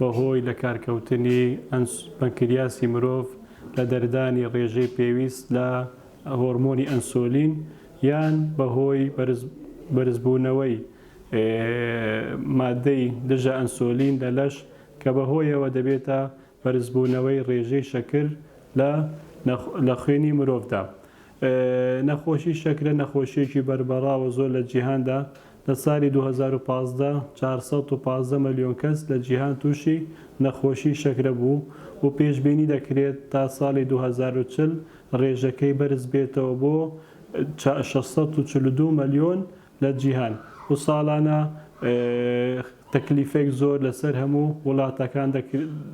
بەهۆی لەکارکەوتنی ئەنس پەنکریاسی مرۆڤ لە دەردانی ڕێژەی پێویست لە هۆرمۆنی ئەنسۆلین یان بەهۆی بەرزبوونەوەی ماددەی دژە ئەنسۆلین لە لەش کە بەهۆیەوە دەبێتە بەرزبوونەوەی ڕێژەی شەکر لە خوێنی مرۆڤدا. نەخۆشی شەکرە نەخۆشییەکی بەربەڕاوە زۆر لە جیهاندا لە سالی دوو هەزار و پازدە چوار سەد و پازدە مەلیۆن کەس لە جیهان تووشی نەخۆشی شەکرە بوو و پێشبینی دەکرێت تا سالی دوو هەزار و چل رێژەکەی بەرز بێتەوە بۆ شەش سەد و چل و دوو مەلیۆن لە جیهان و ساڵانە تەکلیفێک زۆر لەسەر هەموو وڵاتەکان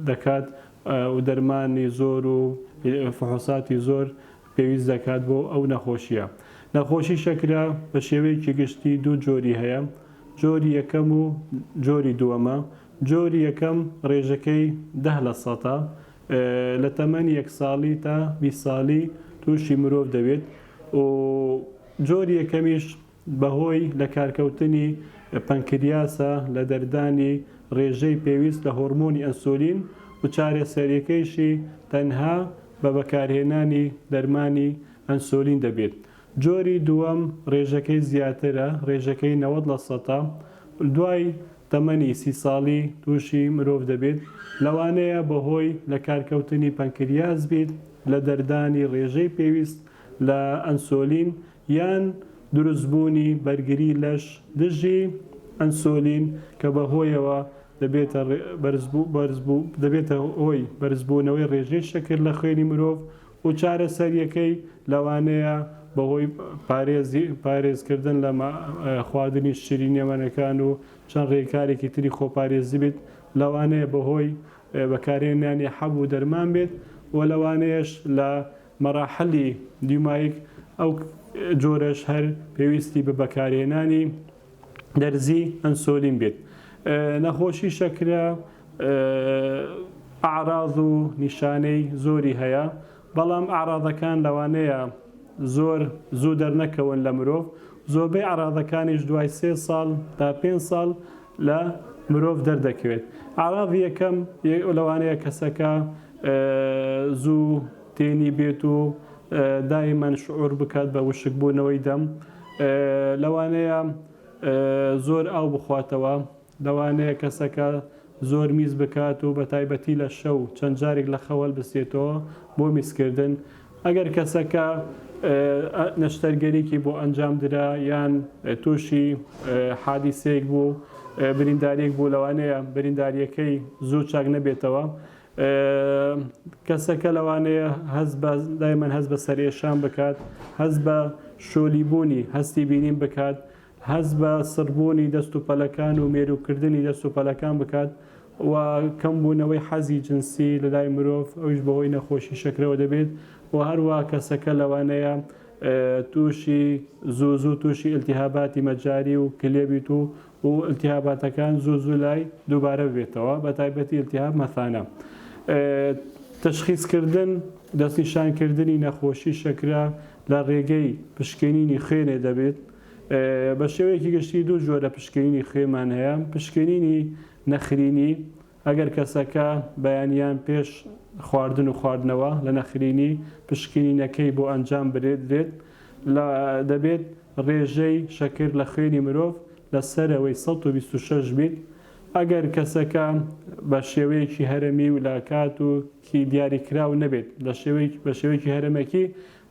دەکات و دەرمانی زۆر و فحوصاتی زۆر پێویست دەکات بۆ ئەو نەخۆشییە. نەخۆشی شەکرە بە شێوەیەکی گشتی دوو جۆری هەیە، جۆری یەکەم و جۆری دووەمە، جۆری یەکەم ڕێژەکەی دە لە سەتە، لە تەمەنی یەک ساڵی تا بیست ساڵی تووشی مرۆڤ دەبێت و جۆری یەکەمیش بەهۆی لەکارکەوتنی پەنکریاسە لە دەردانی رێژەی پێویست لە هۆرمۆنی ئەنسۆلین و چارەسەریەکەیشی تەنها بە بەکارهێنانی دەرمانی ئەنسۆلین دەبێت. جۆری دووەم رێژەکەی زیاترە، رێژەکەی نەوەد لە سەتا، دوای تەمەنی سی ساڵی تووشی مرۆڤ دەبێت، لەوانەیە بەهۆی لەکارکەوتنی پەنکریاس بیت لە دەردانی رێژەی پێویست لە ئەنسۆلین یان دروستبوونی بەرگری لەش دژی ئەنسۆلین کە بەهۆیەوە دەبێتە هۆی بەرزبوونەوەی ڕێژەی شەکر لە خوێنی مرۆڤ و چارەسەرییەکەی لەوانەیە بەهۆی پارێزکردن لە خواردنی شیرینییەمەنەکان و چەند ڕێکارێکی تری خۆپارێزی بێت، لەوانەیە بەهۆی بەکارهێنانی حەب و دەرمان بێت و لەوانەیەش لە مەراحلی دیومایک ئەو جۆرەش هەر پێویستی بە بەکارهێنانی دەرزی ئەنسۆلین بێت. نەخۆشی شەکرە ئەعراز و نیشانەی زۆری هەیە، بەڵام ئەعرازەکان لەوانەیە زۆر زوو دەرنەکەون لە مرۆڤ، زۆربەی ئەعرازەکانیش دوای سێ ساڵ تا پێنج ساڵ لە مرۆڤ دەردەکەوێت ئاراڤی یەکەم لەوانەیە کەسەکە زوو تێنی بێت و دایمەن شعور بکات بە وشک بوونەوەی دەم لەوانەیە زۆر ئاو بخواتەوە لەوانەیە کەسەکە زۆر میز بکات و بە تایبەتی لە شەو چەند جارێک لە خەوەل بسێتەوە بۆ میسکردن ئەگەر کەسەکە نەشتەرگەریەکی بۆ ئەنجام درا یان تووشی حادیسەیەک بوو برینداریەک بوو لەوانەیە برینداریەکەی زوو چاک نەبێتەوە کەسەکە لەوانەیە هەز بە دایمەن هەز بە سەرئێشان بکات هەز بە شۆلی بوونی هەستی بینین بکات هەست بە سڕبوونی دەست و پەلەکان و مێرووکردنی دەست و پەلەکان بکات و کەمبوونەوەی حەزی جنسی لە لای مرۆڤ ئەویش بەهۆی نەخۆشی شەکرەوە دەبێت و هەروەها کەسەکە لەوانەیە تووشی زوو زوو تووشی ئیلتیهاباتی مەجاری و کلێ بیت و و ئیلتیهاباتەکان زوو زوو لای دووبارە ببێتەوە بە تایبەتی ئیلتیهاب مەثانە تەشخیسکردن دەستنیشانکردنی نەخۆشی شەکرە لە ڕێگەی پشکنینی خوێنێ دەبێت بە شێوەیەکی گشتی دوو جۆرە پشکنینی خوێمان هەیە، پشکنینی نەخرینی، ئەگەر کەسەکە بەیانیان پێش خواردن و خواردنەوە لە نەخرینی پشکنینەکەی بۆ ئەنجام بدرێت دەبێت رێژەی شەکر لە خوێنی مرۆڤ لە سەرەوەی سەد و بیست و شەش بیت ئەگەر کەسەکە بە شێوەیەکی هەرەمی و لە کات و کی دیاریکراو نەبێت بە شێوەیەکی هەرەمەکی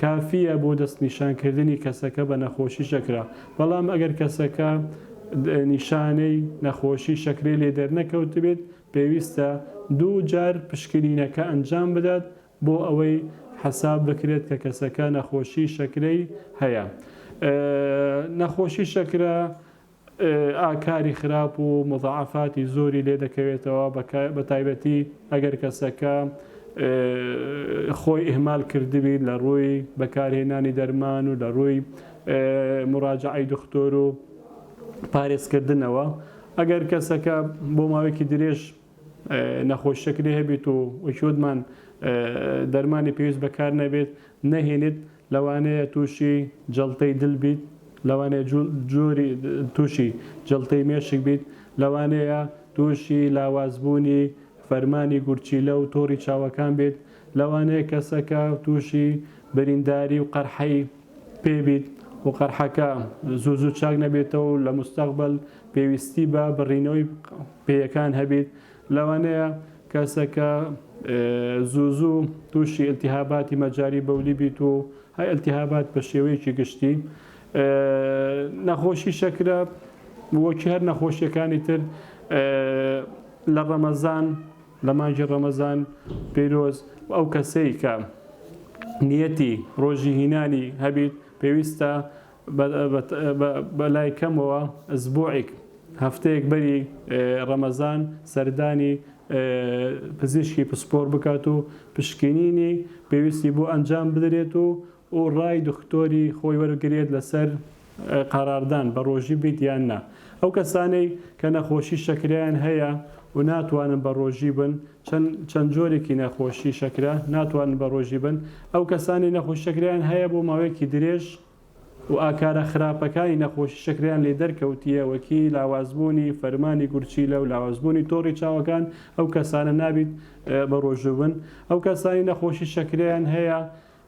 کافییە بۆ دەستنیشانکردنی کەسەکە بە نەخۆشی شەکرە، بەڵام ئەگەر کەسەکە نیشانەی نەخۆشی شەکرەی لێ دەرنەکەوتبێت، پێویستە دوو جار پشکنینەکە ئەنجام بدات بۆ ئەوەی حەساب بکرێت کە کەسەکە نەخۆشی شەکرەی هەیە. نەخۆشی شەکرە ئاکاری خراپ و موزاعەفاتی زۆری لێ دەکەوێتەوە بە تایبەتی ئەگەر کەسەکە خۆی ئیهمال کردبیت لە ڕووی بەکارهێنانی دەرمان و لە ڕووی موراجەعەی دختۆر و پارێزکردنەوە ئەگەر کەسەکە بۆ ماوەیەکی درێژ نەخۆش شەکرەی هەبێت و وەکیوتمان دەرمانی پێویست بەکارنەبێت نەهێنێت لەوانەیە توشی جەڵتەی دل بیت لەوانەیە جۆری توشی جەڵتەی مێشک بیت لەوانەیە توشی لاوازبوونی فەرمانی گورچیلە و تۆڕی چاوەکان بێت لەوانەیە کەسەکە توشی برینداری و قەرحەی پێ بیت و قەرحەکە زوو زوو چاک نەبێتەوە و لە موستەقبەل پێویستی بە بڕینەوەی پێیەکان هەبیت لەوانەیە کەسەکە زوو زوو تووشی التهاباتی مەجاری بەولی بیت و هەر التهابات بە شێوەیەکی گشتی نەخۆشی شەکرە وەکی هەر نەخۆشیەکانی تر لە ڕەمەزان لە مانگی ڕەمەزان پیرۆز ئەو کەسەی کە نیەتی ڕۆژی هینانی هەبیت پێویستە بەلای کەمەوە ئەسبوعیک هەفتەیەک بەری ڕەمەزان سەردانی پزیشکی پسپۆر بکات و پشکنینی پێویستی بۆ ئەنجام بدرێت و و ڕای دختۆری خۆی وەرگرێت لەسەر قەراردان بە ڕۆژی بیت یان نا ئەو کەسانەی کە نەخۆشی شەکرەیان هەیە و ناتوانن بە ڕۆژی بن چەند چەند جۆرێکی نەخۆشی شەکرە ناتوانن بە ڕۆژی بن ئەو کەسانەی نەخۆشی شەکرەیان هەیە بۆ ماوەیەکی درێژ و ئاکارە خراپەکانی نەخۆشی شەکرەیان لێ دەرکەوتیە وەکی لاوازبوونی فەرمانی گورچیلە و لاوازبوونی تۆڕی چاوەکان ئەو کەسانە نابیت بە ڕۆژوو بن ئەو کەسانی نەخۆشی شەکرەیان هەیە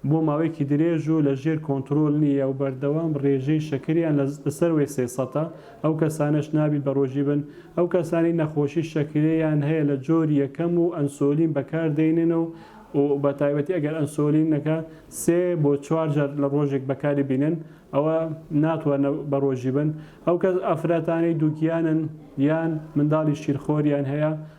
بۆ ماوەیەکی درێژ و لە ژێر کۆنترۆل نییە و بەردەوام ڕێژەی شەکریان لە سەروەی سێ سەتە، ئەو کەسانەش نابیت بە ڕۆژی بن، ئەو کەسانەی نەخۆشی شەکرەیان هەیە لە جۆری یەکەم و ئەنسۆلین بەکار دەینن و بە تایبەتی ئەگەر ئەنسۆلینەکە سێ بۆ چوار جار لە ڕۆژێک بەکاری بینن ئەوە ناتواننە بە ڕۆژی بن، ئەو ئەفراتانەی دووگیانن یان منداڵی شیرخۆریان هەیە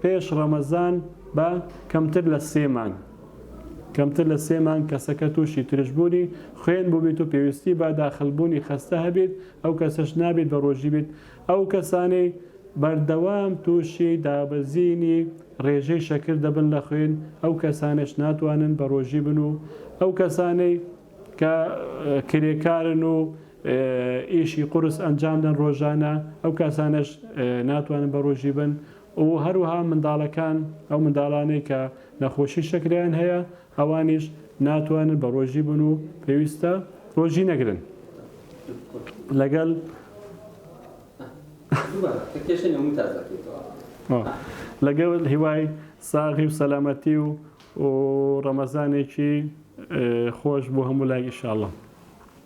پێش ڕەمەزان بە کەمتر لە سێ مانگ کەمتر لە سێ مانگ کەسەکە تووشی ترشبوونی خوێن بووبیت و پێویستی بە داخلبوونی خەستە هەبیت ئەو کەسەش نابیت بە ڕۆژی بیت ئەو کەسانەی بەردەوام تووشی دابەزینی ڕێژەی شەکر دەبن لە خوێن ئەو کەسانەش ناتوانن بە ڕۆژی بن و ئەو کەسانەی کە کرێکارن و ئیشی قورس ئەنجام دەن ڕۆژانە، ئەو کەسانەش ناتوانن بە ڕۆژی بن و هەروەها منداڵەکان، ئەو منداڵانەی کە نەخۆشی شەکرەیان هەیە ئەوانیش ناتوانن بە ڕۆژی بن و پێویستە ڕۆژی نەگرن لەگەل لەگەل هیوای ساغی و سەلامەتی و و ڕەمەزانێکی خۆش بۆ هەموو لایک ئیشاڵڵە.